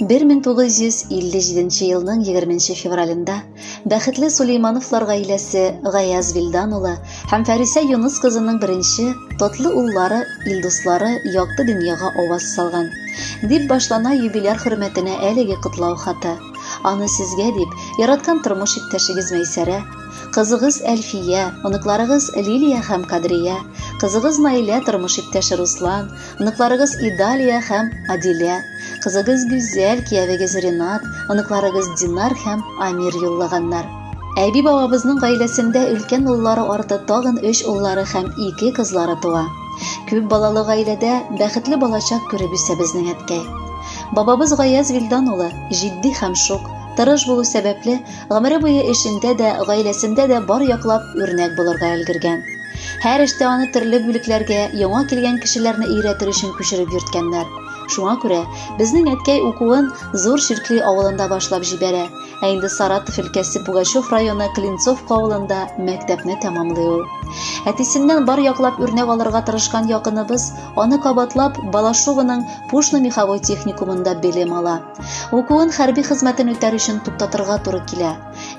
1957 елның 20 февралендә бәхетле Сулеймановлар гаиләсе Гаяз Вилдан улы һәм Фәрисә Юныс кызының беренче тотлы уллары Илдуслары якты дөньяга аваз салган. Дип башлана юбиляр хөрмәтенә әлеге котлау хаты. Аны сезгә дип, яраткан тормыш иптәшегез Мәйсәрә, кызыгыз Әлфия, оныкларыгыз Лилия һәм Кадрия, кызыгыз Наилә, тормыш иптәше Руслан, Оныкларыгыз Идалия һәм Адилә, кызыгыз Гүзәл, киявегез Ренат, оныкларыгыз Динар һәм Амир юллаганнар. Әби бабабызның гаиләсендә өлкән уллары арты тагын өч уллары һәм ике кызлары туа. Күп балалы гаиләдә бәхетле балачак күреп үсә безнең әткәй. Бабабыз Гаяз Вилдан улы, җитди һәм шук, тырыш булу сәбәпле, Гомере буе эшендә дә, гаиләсендә дә бар яклап үрнәк булырга өлгергән. Һәр эштә аны төрле бүлекләргә, яңа килгән кешеләрне өйрәтер өчен күчереп йөрткәннәр. Шуңа күрә безнең әткәй укуын Зур Ширкли авылында башлап җибәрә, ә инде Саратов өлкәсе Пугачев районы Клинцовка авылында мәктәпне тәмамлый ул. Әтисеннән бар яклап үрнәк алырга тырышкан якыныбыз аны кабатлап Балашовының Пушно меховой техникумында белем ала. Укуын хәрби хезмәтен үтәр өчен туктатырга туры килә.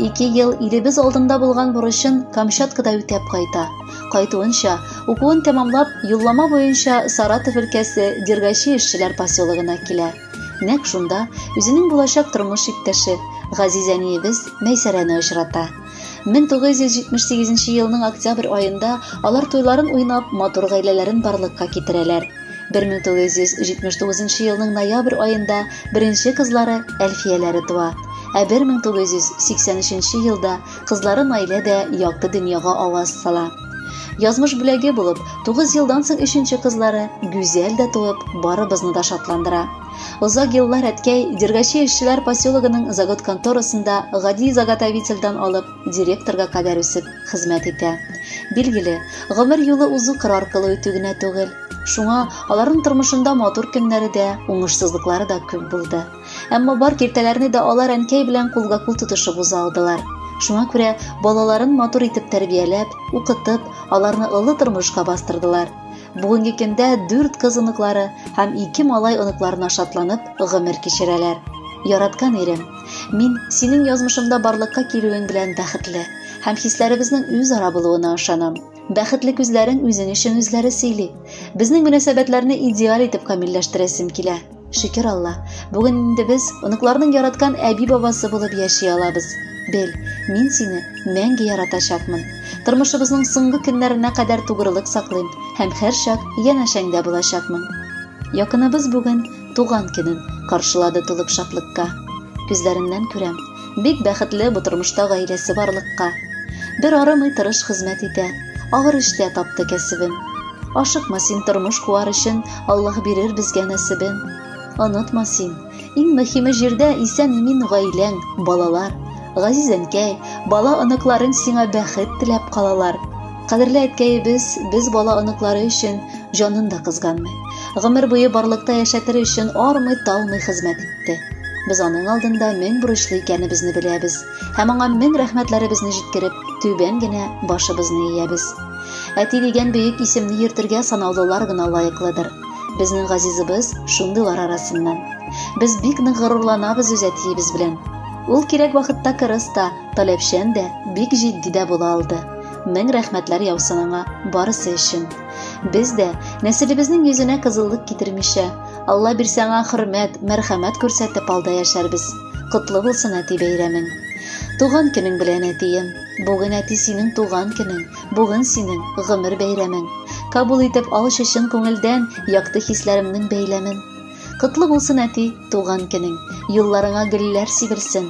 Ике ел илебез алдында булган бурычын Камчаткада үтәп кайта. Кайтуынча, укуын тәмамлап, юллама буенча Саратов өлкәсе Дергачи эшчеләр поселогына килә. Нәкъ шунда үзенең булачак тормыш иптәше, газиз әниебез Мәйсәрәне очрата. 1978 елның октябрь аенда алар туйларын уйнап, матур гаиләләрен барлыкка китерәләр. 1979 елның ноябрь аенда беренче кызлары Әлфияләре туа. Ә 1983 елда кызлары Наилә дә якты дөньяга аваз сала. Язмыш бүләге булып, 9 елдан соң өченче кызлары Гүзәл дә туып, барыбызны да шатландыра. Озак еллар әткәй Дергачи эшчеләр поселогының загот конторасында гади заготовительдан алып директорга кадәр үсеп хезмәт итә. Билгеле, гомер юлы узу кыр аркылы үтү генә түгел. Шуңа аларның тормышында матур көннәре дә, уңышсызлыклары да күп булды. Әмма бар киртәләрне дә алар әнкәй белән кулга-кул тотышып уза алдылар. Шуңа күрә балаларын матур итеп тәрбияләп, укытып, аларны олы тормышка бастырдылар. Бүгенге көндә дүрт кыз оныклары һәм ике малай оныкларына шатланып гомер кичерәләр. Яраткан ирем, мин синең язмышымда барлыкка килүең белән бәхетле һәм хисләребезнең үзара булуына ышанам. Бәхетле күзләрең үзең өчен үзләре сөйли. Безнең мөнәсәбәтләрне идеаль итеп камилләштерәсем килә. Шөкер Алла, бүген инде без оныкларның яраткан әби-бабасы булып яши алабыз. Бел, мин сине мәңге яратачакмын. Тормышыбызның соңгы көннәренә кадәр тугрылык саклыйм һәм һәрчак янәшәңдә булачакмын. Якыныбыз бүген туган көнен каршылады тулып шатлыкка. Күзләреннән күрәм, Бик бәхетле бу тормышта гаиләсе барлыкка. Бер арымый тырыш хезмәт итә, авыр эштә тапты кәсебен. Ашыкма син тормыш куар өчен, Аллаһ бирер безгә нәсебен. Онытма син, иң мөһиме җирдә исән имин гаиләң, балалар. Газиз әнкәй, бала оныкларың сиңа бәхет теләп калалар. Кадерле әткәебез без бала оныклары өчен җанын да кызганмый. Гомер буе барлыкта яшәтер өчен армый талмый хезмәт итте. Без аның алдында мең бурычлы икәнебезне беләбез һәм аңа мең рәхмәтләребезне җиткереп, түбән генә башыбызны иябез. Әти дигән бөек исемне йөртергә санаулылар гына лаеклыдыр. Безнең газизыбыз шундыйлар арасыннан. Без бик нык горурланабыз үз әтиебез белән. Ул кирәк вакытта кырыс та, таләпчән дә, бик җитди дә була алды. Мең рәхмәтләр яусын аңа барысы өчен. Без дә нәселебезнең йөзенә кызыллык китермичә, Алла бирсә аңа хөрмәт, мәрхәмәт күрсәтеп алда яшәрбез. Котлы булсын әти бәйрәмең. Туган көнең белән әтием. Бүген әти синең туган көнең, бүген синең гомер бәйрәмең. Кабул итеп алчы чын күңелдән якты хисләремнең бәйләмен. Котлы булсын әти, туган көнең. Юлларыңа гөлләр сибелсен.